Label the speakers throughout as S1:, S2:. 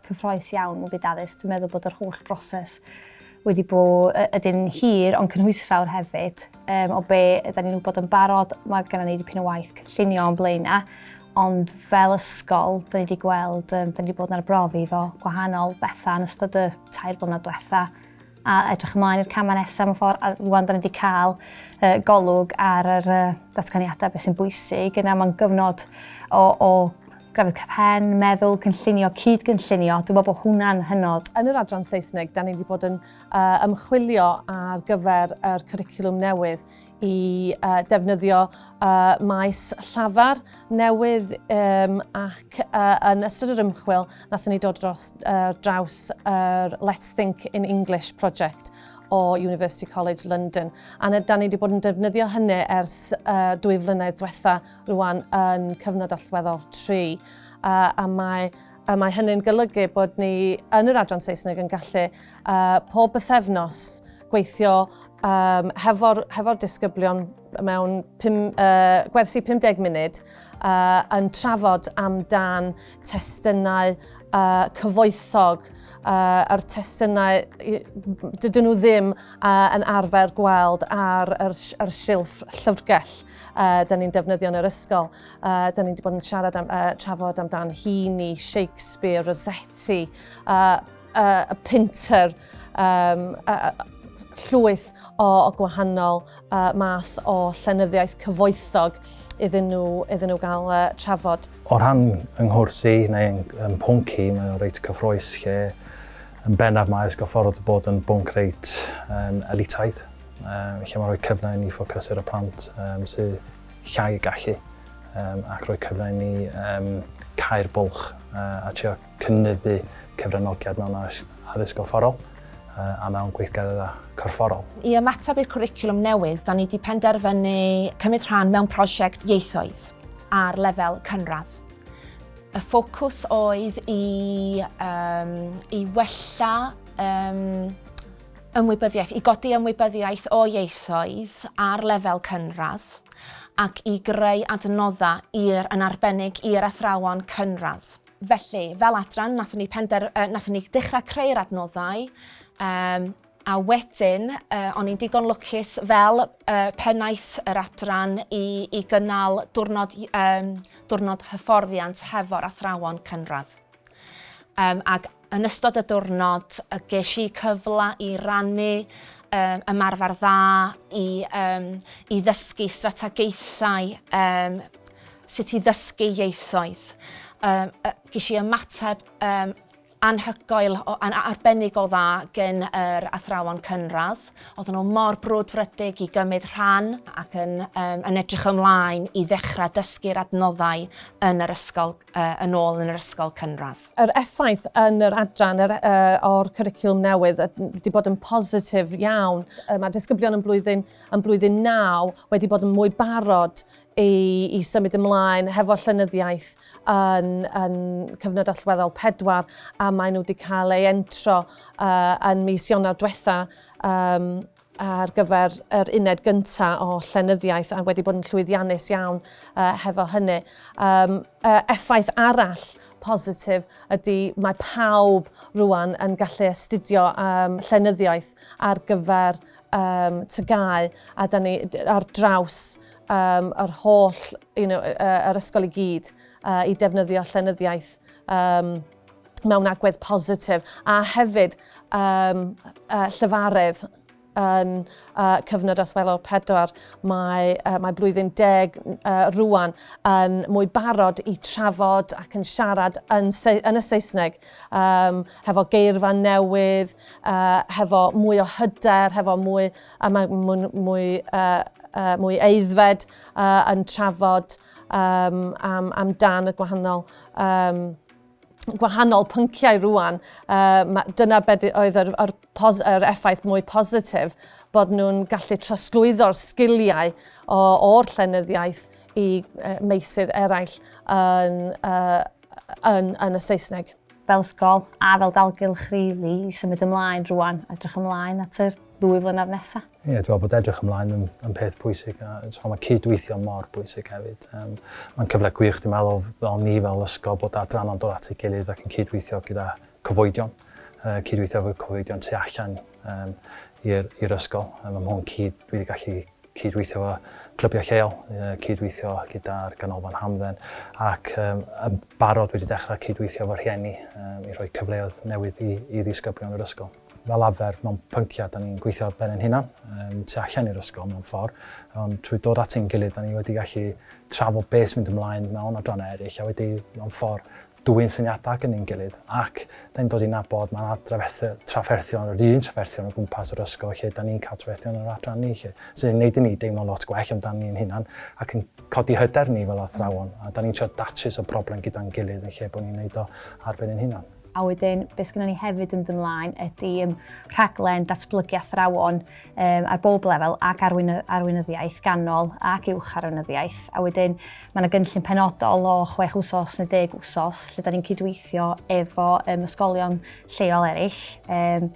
S1: Cyffroes iawn y byd addysg. Dwi'n meddwl bod yr holl broses wedi bod ydyn hir ond cynhwysfawr hefyd. Um, o be ydy ni'n wybod yn barod, mae gennym ni dipyn o waith cynllunio o'n blaen na, ond fel ysgol, dyn ni wedi gweld, um, dyn ni wedi bod yn arbrofi fo gwahanol bethau yn ystod y tair blynedd diwetha. a edrych ymlaen i'r camau nesaf mewn ffordd, a rwan da ni wedi cael uh, golwg ar yr uh, datganiadau beth sy'n bwysig, yna mae'n gyfnod o, o grafydd cyfhen, meddwl, cynllunio, cyd-gynllunio, dwi'n meddwl bod hwnna'n hynod. Yn yr adran Saesneg,
S2: da ni wedi bod yn uh, ymchwilio ar gyfer yr cwricwlwm newydd i uh, defnyddio uh, maes llafar newydd um, ac uh, yn ystod yr ymchwil nathon ni dod dros, uh, draws yr uh, Let's Think in English project o University College London. A da ni wedi bod yn defnyddio hynny ers uh, dwy flynedd diwetha rwan yn cyfnod allweddol 3. Uh, a mae a mae hynny'n golygu bod ni yn yr adran Saesneg yn gallu uh, pob bythefnos gweithio um, hefo'r hefo disgyblion mewn pum, uh, gwersi 50 munud uh, yn trafod amdan testunau uh, cyfoethog uh, a'r testunau dydyn nhw ddim uh, yn arfer gweld ar yr, yr silff llyfrgell uh, da ni'n defnyddio yn yr ysgol. Uh, da ni wedi bod yn siarad am, uh, trafod amdan Heaney, Shakespeare, Rossetti, uh, uh, a pinter, um, uh, llwyth o, o gwahanol uh, math o llenyddiaeth cyfoethog iddyn nhw, iddyn nhw gael uh, trafod. O rhan
S3: yng nghwrs i neu yng, yng pwnci, mae o'n reit cyffroes lle yn bennaf mae ysgol ffordd bod yn bwnc reit um, elitaidd, um, lle mae'n rhoi cyfle i ni ffocus ar y plant um, sydd llai y gallu um, ac rhoi cyfle i ni um, cael bwlch uh, a trio cynyddu cyfranogiad mewn addysg gorfforol a mewn gweithgareddau corfforol. I ymateb i'r
S4: cwricwlwm newydd, da ni wedi penderfynu cymryd rhan mewn prosiect ieithoedd ar lefel cynradd. Y ffocws oedd i, um, i wella um, ymwybyddiaeth, i godi ymwybyddiaeth o ieithoedd ar lefel cynradd ac i greu adnoddau i'r yn arbennig i'r athrawon cynradd. Felly, fel adran, nathon ni pender... Uh, nathon ni dechrau creu'r adnoddau, um, a wedyn, uh, o'n i'n digon lwcus fel uh, pennaeth yr adran i, i gynnal diwrnod, um, diwrnod hyfforddiant hefo'r athrawon cynradd. Um, ac Yn ystod y diwrnod, ges i cyfle i rannu um, ymarfer dda, i, um, i ddysgu strategaethau um, sut i ddysgu ieithoedd. Um, ges i ymateb um, anhygoel, an, arbennig o dda gen yr athrawon cynradd. Oedden nhw mor brwdfrydig i gymryd rhan ac yn, um, yn edrych ymlaen i ddechrau dysgu'r adnoddau yn yr ysgol yn ôl yn yr ysgol cynradd. Yr effaith
S2: yn yr adran yr, uh, o'r cwricwlwm newydd wedi bod yn positif iawn. Uh, mae disgyblion yn blwyddyn, yn blwyddyn naw wedi bod yn mwy barod i, i symud ymlaen hefo llynyddiaeth yn, yn cyfnod allweddol pedwar a maen nhw wedi cael ei entro uh, yn mis Ionawr diwetha um, ar gyfer yr uned gynta o llenyddiaeth a wedi bod yn llwyddiannus iawn uh, hefo hynny. Um, uh, effaith arall positif ydy mae pawb rwan yn gallu astudio um, llenyddiaeth ar gyfer um, tygau a da ni ar draws um, yr holl, you know, uh, yr ysgol i gyd uh, i defnyddio llenyddiaeth um, mewn agwedd positif a hefyd um, uh, llyfaredd yn uh, cyfnod allweddol pedwar. Mae, uh, mae blwyddyn deg uh, rwan yn mwy barod i trafod ac yn siarad yn, yn y Saesneg um, hefo geirfa newydd, uh, hefo mwy o hyder, hefo mwy, a mae mwy, mwy, uh, uh, mwy eiddfed uh, yn trafod um, am, am dan y gwahanol um, gwahanol pynciau rwan, uh, dyna beth oedd yr, yr, pos, yr effaith mwy positif bod nhw'n gallu trosglwyddo'r sgiliau o'r llenyddiaeth i uh, meysydd eraill yn, uh, yn, yn y Saesneg. Fel sgol
S1: a fel dalgylch rili really, i symud ymlaen rwan, edrych ymlaen at yr ddwy flynedd nesaf. Ie, yeah, dwi'n meddwl bod edrych
S3: ymlaen yn, yn peth pwysig a so, mae cydweithio mor bwysig hefyd. Um, mae'n cyfle gwych, dwi'n meddwl, fel ni fel ysgol bod adranna'n dod at ei gilydd ac yn cydweithio gyda cyfoedion, uh, cydweithio efo cyfoedion tu allan um, i'r ysgol. Um, mae hwn cyd, dwi wedi gallu cydweithio efo clybiau lleol, uh, cydweithio gyda'r ganolfan hamdden, ac um, yn barod wedi dechrau cydweithio efo rhieni um, i roi cyfleoedd newydd i, i ddisgyblion yr ysgol. Fel arfer, mewn pynciau, da ni'n gweithio ar ben ein hunan, um, tu allan i'r ysgol mewn ffordd, ond trwy dod at ein gilydd, da ni wedi gallu trafod beth sy'n mynd ymlaen mewn adrannau eraill, a wedi mewn ffordd dwy'n syniadau gan ein gilydd, ac da ni'n dod i'n nabod mae yna trafferthion, yr un trafferthion o gwmpas yr ysgol, lle da ni'n cael trafferthion yr adran ni, lle, sy'n gwneud i ni deimlo lot gwell amdano ni'n hunan, ac yn codi hyder ni fel athrawon, a da ni'n trio datrys o broblem gyda'n gilydd yn lle bod ni'n gwneud o ar ben ein hunan. A wedyn, be
S1: sgynnon ni hefyd yn dod ymlaen ydy um, rhaglen datblygu athrawon um, ar bob lefel ac arwyn, arweinyddiaeth ganol ac uwch arweinyddiaeth. A wedyn, mae yna gynllun penodol o chwech wsos neu deg wsos lle da ni'n cydweithio efo um, ysgolion lleol eraill. Um,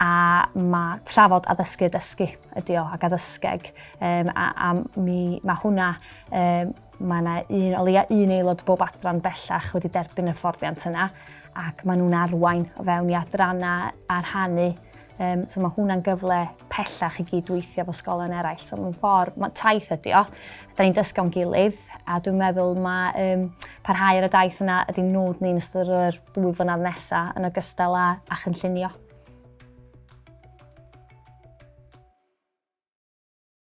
S1: a mae trafod addysgu y dysgu ydy o ac addysgeg um, a, a mi, mae hwnna um, Mae yna un, o leia un aelod bob adran bellach wedi derbyn y fforddiant yna ac maen nhw'n arwain o fewn i adrannau a rhannu Um, so mae hwnna'n gyfle pellach i gydweithio fo sgolen eraill. So mae'n ffordd, mae taith ydi o, da ni'n dysgu o'n gilydd, a dwi'n meddwl mae um, parhau ar y daith yna ydy nod ni'n ystod o'r dwy flynedd nesaf yn ogystal â, a chynllunio.